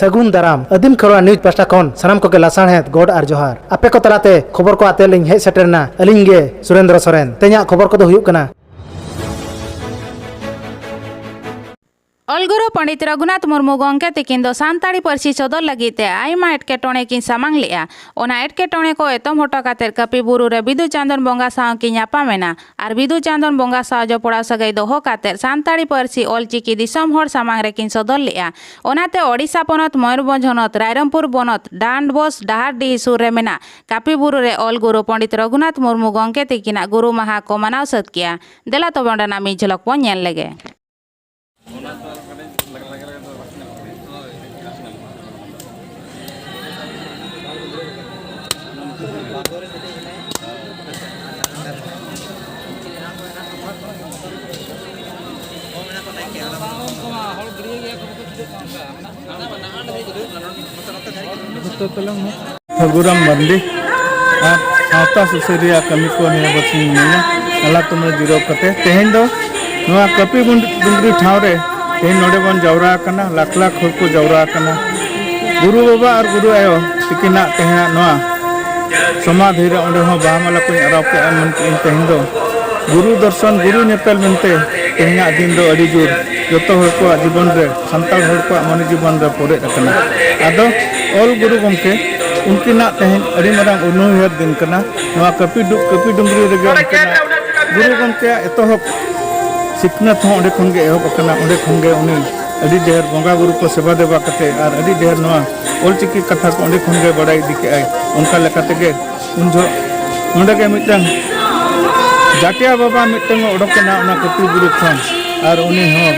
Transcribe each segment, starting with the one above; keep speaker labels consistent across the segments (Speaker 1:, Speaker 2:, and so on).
Speaker 1: ᱥᱟᱹᱜᱩᱱ ᱫᱟᱨᱟᱢ ᱟᱹᱫᱤᱢ ᱠᱷᱚᱨᱣᱟ ᱱᱤᱭᱩᱡᱽ ᱯᱟᱥᱴᱟ ᱠᱷᱚᱱ ᱥᱟᱱᱟᱢ ᱠᱚᱜᱮ ᱞᱟᱥᱟᱬᱦᱮᱫ ᱜᱚᱰ ᱟᱨ ᱡᱚᱦᱟᱨ ᱟᱯᱮ ᱠᱚ ᱛᱟᱞᱟᱛᱮ ᱠᱷᱚᱵᱚᱨ ᱠᱚ ᱟᱛᱮ ᱞᱤᱧ ᱦᱮᱡ ᱥᱮᱴᱮᱨᱱᱟ ᱟᱹᱞᱤᱧ ᱜᱮ ᱥᱩᱨᱮᱱᱫᱨᱚ ᱥᱚᱨᱮᱱ ᱛᱮᱦᱮᱧᱟᱜ ᱠᱷᱚᱵᱚᱨ ᱠᱚᱫᱚ ᱦᱩᱭᱩᱜ ᱠᱟᱱᱟ
Speaker 2: ᱚᱞᱜᱩᱨᱩ ᱯᱚᱸᱰᱤᱛ ᱨᱚᱜᱷᱩᱱᱟᱛᱷ ᱢᱩᱨᱢᱩ ᱜᱚᱢᱠᱮ ᱛᱤᱠᱤᱱ ᱫᱚ ᱥᱟᱱᱛᱟᱲᱤ ᱯᱟᱹᱨᱥᱤ ᱥᱚᱫᱚᱨ ᱞᱟᱹᱜᱤᱫ ᱛᱮ ᱟᱭᱢᱟ ᱮᱴᱠᱮᱴᱚᱬᱮ ᱠᱤᱱ ᱥᱟᱢᱟᱝ ᱞᱮᱫᱼᱟ ᱚᱱᱟ ᱮᱴᱠᱮᱴᱚᱬᱮ ᱠᱚ ᱮᱛᱚᱢ ᱦᱚᱴᱚ ᱠᱟᱛᱮ ᱠᱟᱹᱯᱤ ᱵᱩᱨᱩ ᱨᱮ ᱵᱤᱫᱩ ᱪᱟᱸᱫᱚᱱ ᱵᱚᱸᱜᱟ ᱥᱟᱶ ᱠᱤᱱ ᱧᱟᱯᱟᱢ ᱮᱱᱟ ᱟᱨ ᱵᱤᱫᱩ ᱪᱟᱸᱫᱚᱱ ᱵᱚᱸᱜᱟ ᱥᱟᱶ ᱡᱚᱯᱲᱟᱣ ᱥᱟᱹᱜᱟᱹᱭ ᱫᱚᱦᱚ ᱠᱟᱛᱮ ᱥᱟᱱᱛᱟᱲᱤ ᱯᱟᱹᱨᱥᱤ ᱚᱞᱪᱤᱠᱤ ᱫᱤᱥᱚᱢ ᱦᱚᱲ ᱥᱟᱢᱟᱝ ᱨᱮ ᱠᱤᱱ ᱥᱚᱫᱚᱨ ᱞᱮᱫᱼᱟ ᱚᱱᱟᱛᱮ ᱳᱰᱤᱥᱟ ᱯᱚᱱᱚᱛ ᱢᱚᱭᱩᱨᱵᱷᱚᱸᱡᱽ ᱦᱚᱱᱚᱛ ᱨᱟᱭᱨᱚᱝᱯᱩᱨ ᱵᱚᱱᱚᱛ ᱰᱟᱱᱰᱵᱳᱥ ᱰᱟᱦᱟᱨᱰᱤᱦᱤ ᱥᱩᱨ ᱨᱮ ᱢᱮᱱᱟᱜ ᱠᱟᱹᱯᱤ ᱵᱩᱨᱩ ᱨᱮ ᱚᱞ ᱜᱩᱨᱩ ᱯᱚᱸᱰᱤᱛ ᱨᱚᱜᱷᱩᱱᱟᱛᱷ ᱢᱩᱨᱢᱩ ᱜᱚᱢᱠᱮ ᱛᱤᱠᱤᱱᱟᱜ ᱜᱩᱨᱩ ᱢᱟᱦᱟ ᱠᱚ ᱢᱟᱱᱟᱣ ᱥᱟᱹᱛ ᱠᱮᱜᱼᱟ ᱫᱮᱞᱟ ᱛᱚᱵᱮ ᱚᱸᱰᱮᱱᱟᱜ ᱢᱤᱫ ᱡᱷᱚᱞᱚᱠ ᱵᱚᱱ ᱧᱮᱞ ᱞᱮᱜᱮ
Speaker 3: ᱴᱷᱟᱹᱜᱩᱨᱟᱢ ᱢᱟᱨᱰᱤ ᱟᱨ ᱥᱟᱶᱛᱟ ᱥᱩᱥᱟᱹᱨᱤᱭᱟᱹ ᱠᱟᱹᱢᱤ ᱠᱚ ᱱᱤᱭᱟᱹ ᱵᱟᱹᱥᱤᱧ ᱢᱤᱱᱟᱹᱧᱟ ᱟᱞᱟ ᱛᱩᱢᱟᱹᱞ ᱡᱤᱨᱟᱹᱣ ᱠᱟᱛᱮ ᱛᱮᱦᱮᱧ ᱫᱚ ᱱᱚᱣᱟ ᱠᱟᱹᱯᱤ ᱰᱩᱝᱨᱤ ᱴᱷᱟᱶ ᱨᱮ ᱛᱮᱦᱮᱧ ᱱᱚᱰᱮ ᱵᱚᱱ ᱡᱟᱣᱨᱟ ᱟᱠᱟᱱᱟ ᱞᱟᱠᱷ ᱞᱟᱠᱷ ᱦᱚᱲ ᱠᱚ ᱡᱟᱣᱨᱟ ᱟᱠᱟᱱᱟ ᱜᱩᱨᱩ ᱵᱟᱵᱟ ᱟᱨ ᱜᱩᱨᱩ ᱟᱭᱳ ᱛᱤᱠᱤᱱᱟᱜ ᱛᱮᱦᱮᱧᱟᱜ ᱱᱚᱣᱟ ᱥᱚᱢᱟᱫᱷᱤ ᱨᱮ ᱚᱸᱰᱮ ᱦᱚᱸ ᱵᱟᱦᱟ ᱢᱟᱞᱟ ᱠᱚᱧ ᱟᱨᱟᱣ ᱠᱮᱫᱼᱟ ᱢᱮᱱᱛᱮ ᱤᱧ ᱛᱮᱦᱮᱧ ᱫᱚ ᱜᱩᱨᱩ ᱫᱚᱨᱥᱚᱱ ᱜᱩᱨᱩ ᱧᱮᱯᱮᱞ ᱢᱮᱱᱛᱮ ᱛᱮᱦᱮᱧᱟᱜ ᱫᱤᱱ ᱫᱚ ᱟᱹᱰᱤ ᱡᱳᱨ ᱡᱚᱛᱚ ᱦᱚᱲ ᱠᱚᱣᱟᱜ ᱡᱤᱵᱚᱱ ᱨᱮ ᱥᱟᱱᱛᱟᱲ ᱦᱚᱲ ᱠᱚᱣᱟᱜ ᱢᱚᱱᱮ ᱡᱤᱵᱚᱱ ᱨᱮ ᱯᱚᱨᱮᱫ ᱟᱠᱟᱱᱟ ᱟᱫᱚ ᱚᱞ ᱜᱩᱨᱩ ᱜᱚᱢᱠᱮ ᱩᱱᱠᱤᱱᱟᱜ ᱛᱮᱦᱮᱧ ᱟᱹᱰᱤ ᱢᱟᱨᱟᱝ ᱩᱱᱩᱭᱦᱟᱹᱨ ᱫᱤᱱ ᱠᱟᱱᱟ ᱱᱚᱣᱟ ᱠᱟᱹᱯᱤ ᱰᱩ ᱠᱟᱹᱯᱤ ᱰᱩᱝᱜᱽᱨᱤ ᱨᱮᱜᱮ ᱩᱱᱠᱤᱱᱟᱜ ᱜᱩᱨᱩ ᱜᱚᱢᱠᱮᱭᱟᱜ ᱮᱛᱚᱦᱚᱵ ᱥᱤᱠᱷᱱᱟᱹᱛ ᱦᱚᱸ ᱚᱸᱰᱮ ᱠᱷᱚᱱ ᱜᱮ ᱮᱦᱚᱵ ᱟᱠᱟᱱᱟ ᱚᱸᱰᱮ ᱠᱷᱚᱱ ᱜᱮ ᱩᱱᱤ ᱟᱹᱰᱤ ᱰᱷᱮᱨ ᱵᱚᱸᱜᱟ ᱵᱩᱨᱩ ᱠᱚ ᱥᱮᱵᱟ ᱫᱮᱵᱟ ᱠᱟᱛᱮ ᱟᱨ ᱟᱹᱰᱤ ᱰᱷᱮᱨ ᱱᱚᱣᱟ ᱚᱞᱪᱤᱠᱤ ᱠᱟᱛᱷᱟ ᱠᱚ ᱚᱸᱰᱮ ᱠᱷᱚᱱ ᱜᱮ ᱵᱟᱲᱟᱭ ᱤᱫᱤ ᱠᱮᱜᱼᱟᱭ ᱚᱱᱠᱟ ᱞᱮᱠᱟ ᱛᱮᱜᱮ ᱩᱱ ᱡᱚᱦᱚᱜ ᱱᱚᱰᱮ ᱜᱮ ᱢᱤᱫᱴᱟᱝ ᱡᱟᱴᱭᱟ ᱵᱟᱵᱟ ᱢᱤᱫᱴᱟᱝ ᱚᱰᱚᱠ ᱮᱱᱟ ᱚᱱᱟ ᱠᱟᱹᱯᱤ ᱵᱩᱨᱩ ᱠᱷᱚᱱ ᱟᱨ ᱩᱱᱤ ᱦᱚᱸ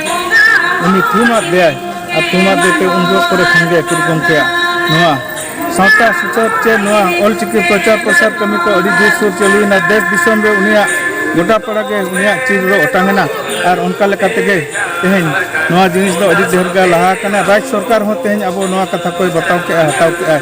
Speaker 3: ᱩᱱᱤ ᱛᱷᱩᱢ ᱟᱫᱮᱭᱟᱭ ᱟᱨ ᱛᱷᱩᱢ ᱟᱫᱮ ᱛᱮ ᱩᱱ ᱡᱚᱦᱚᱜ ᱠᱚᱨᱮ ᱠᱷᱚᱱ ᱜᱮ ᱯᱤᱲ ᱜᱚᱢᱠᱮᱭᱟᱜ ᱱᱚᱣᱟ ᱥᱟᱶᱛᱟ ᱥᱩᱥᱟᱹᱨ ᱪᱮ ᱱᱚᱣᱟ ᱚᱞᱪᱤᱠᱤ ᱯᱨᱚᱪᱟᱨ ᱯᱨᱚᱥᱟᱨ ᱠᱟᱹᱢᱤ ᱠᱚ ᱟᱹᱰᱤ ᱡᱳᱨ ᱥᱳᱨ ᱪᱟᱹᱞᱩᱭᱮᱱᱟ ᱫᱮᱥ ᱫᱤᱥᱚᱢ ᱨᱮ ᱩᱱᱤᱭᱟᱜ ᱜᱚᱴᱟ ᱯᱟᱲᱟ ᱜᱮ ᱩᱱᱤᱭᱟᱜ ᱪᱤᱨ ᱫᱚ ᱚᱴᱟᱝ ᱮᱱᱟ ᱟᱨ ᱚᱱᱠᱟ ᱞᱮᱠᱟ ᱛᱮᱜᱮ ᱛᱮᱦᱮᱧ ᱱᱚᱣᱟ ᱡᱤᱱᱤᱥ ᱫᱚ ᱟᱹᱰᱤ ᱰᱷᱮᱨ ᱜᱮ ᱞᱟᱦᱟ ᱟᱠᱟᱱᱟ ᱨᱟᱡᱽ ᱥᱚᱨᱠᱟᱨ ᱦᱚᱸ ᱛᱮᱦᱮᱧ ᱟᱵᱚ ᱱᱚᱣᱟ ᱠᱟᱛᱷᱟ ᱠᱚᱭ ᱵᱟᱛᱟᱣ ᱠᱮᱜᱼᱟ ᱦᱟᱛᱟᱣ ᱠᱮᱜᱼᱟᱭ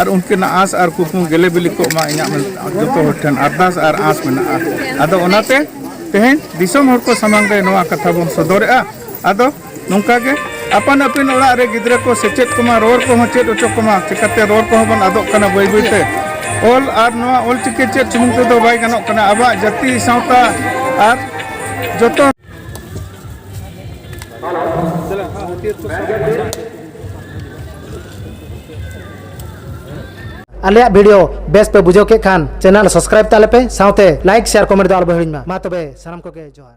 Speaker 3: ᱟᱨ ᱩᱱᱠᱤᱱᱟᱜ ᱟᱸᱥ ᱟᱨ ᱠᱩᱠᱢᱩ ᱜᱮᱞᱮ ᱵᱤᱞᱤ ᱠᱚᱜ ᱢᱟ ᱤᱧᱟᱹᱜ ᱡᱚᱛᱚ ᱦᱚᱲ ᱴᱷᱮᱱ ᱟᱨᱫᱟᱥ ᱟᱨ ᱟᱸᱥ ᱢᱮᱱᱟᱜᱼᱟ ᱟᱫᱚ ᱚᱱᱟᱛᱮ ᱛᱮᱦᱮᱧ ᱫᱤᱥᱚᱢ ᱦᱚᱲ ᱠᱚ ᱥᱟᱢᱟᱝ ᱨᱮ ᱱᱚᱣᱟ ᱠᱟᱛᱷᱟ ᱵᱚᱱ ᱥᱚᱫᱚᱨᱮᱜᱼᱟ ᱟᱫᱚ ᱱᱚᱝᱠᱟ ᱜᱮ ᱟᱯᱟᱱ ᱟᱹᱯᱤᱱ ᱚᱲᱟᱜ ᱨᱮ ᱜᱤᱫᱽᱨᱟᱹ ᱠᱚ ᱥᱮᱪᱮᱫ ᱠᱚᱢᱟ ᱨᱚᱲ ᱠᱚᱦᱚᱸ ᱪᱮᱫ ᱦᱚᱪᱚ ᱠᱚᱢᱟ ᱪᱤᱠᱟᱹᱛᱮ ᱨᱚᱲ ᱠᱚᱦᱚᱸ ᱵᱚᱱ ᱟᱫᱚᱜ ᱠᱟᱱᱟ ᱵᱟᱹᱭ ᱵᱟᱹᱭᱛᱮ ᱚᱞ ᱟᱨ ᱱᱚᱣᱟ ᱚᱞᱪᱤᱠᱤ ᱪᱮᱫ ᱥᱩᱢᱩᱝ ᱛᱮᱫᱚ ᱵᱟᱭ ᱜᱟᱱᱚᱜ ᱠᱟᱱᱟ ᱟᱵᱚᱣᱟᱜ ᱡᱟᱹᱛᱤ ᱥᱟᱶᱛᱟ ᱟᱨ ᱡᱚᱛᱚ
Speaker 1: ᱟᱞᱮᱭᱟᱜ ᱵᱷᱤᱰᱤᱭᱳ ᱵᱮᱥ ᱯᱮ ᱵᱩᱡᱷᱟᱹᱣ ᱠᱮᱫ ᱠᱷᱟᱱ ᱪᱮᱱᱮᱞ ᱥᱟᱵᱥᱠᱨᱟᱭᱤᱵ ᱛᱟᱞᱮ ᱯᱮ ᱥᱟᱶᱛᱮ ᱞᱟᱭᱤᱠ ᱥᱮᱭᱟᱨ ᱠᱚᱢᱮᱱᱴ ᱫᱚ ᱟᱞᱚ ᱯᱮ ᱦᱤᱲᱤᱧ ᱢᱟ ᱢᱟ ᱛᱚᱵᱮ ᱥᱟᱱᱟᱢ ᱠᱚᱜᱮ ᱡᱚᱦᱟᱨ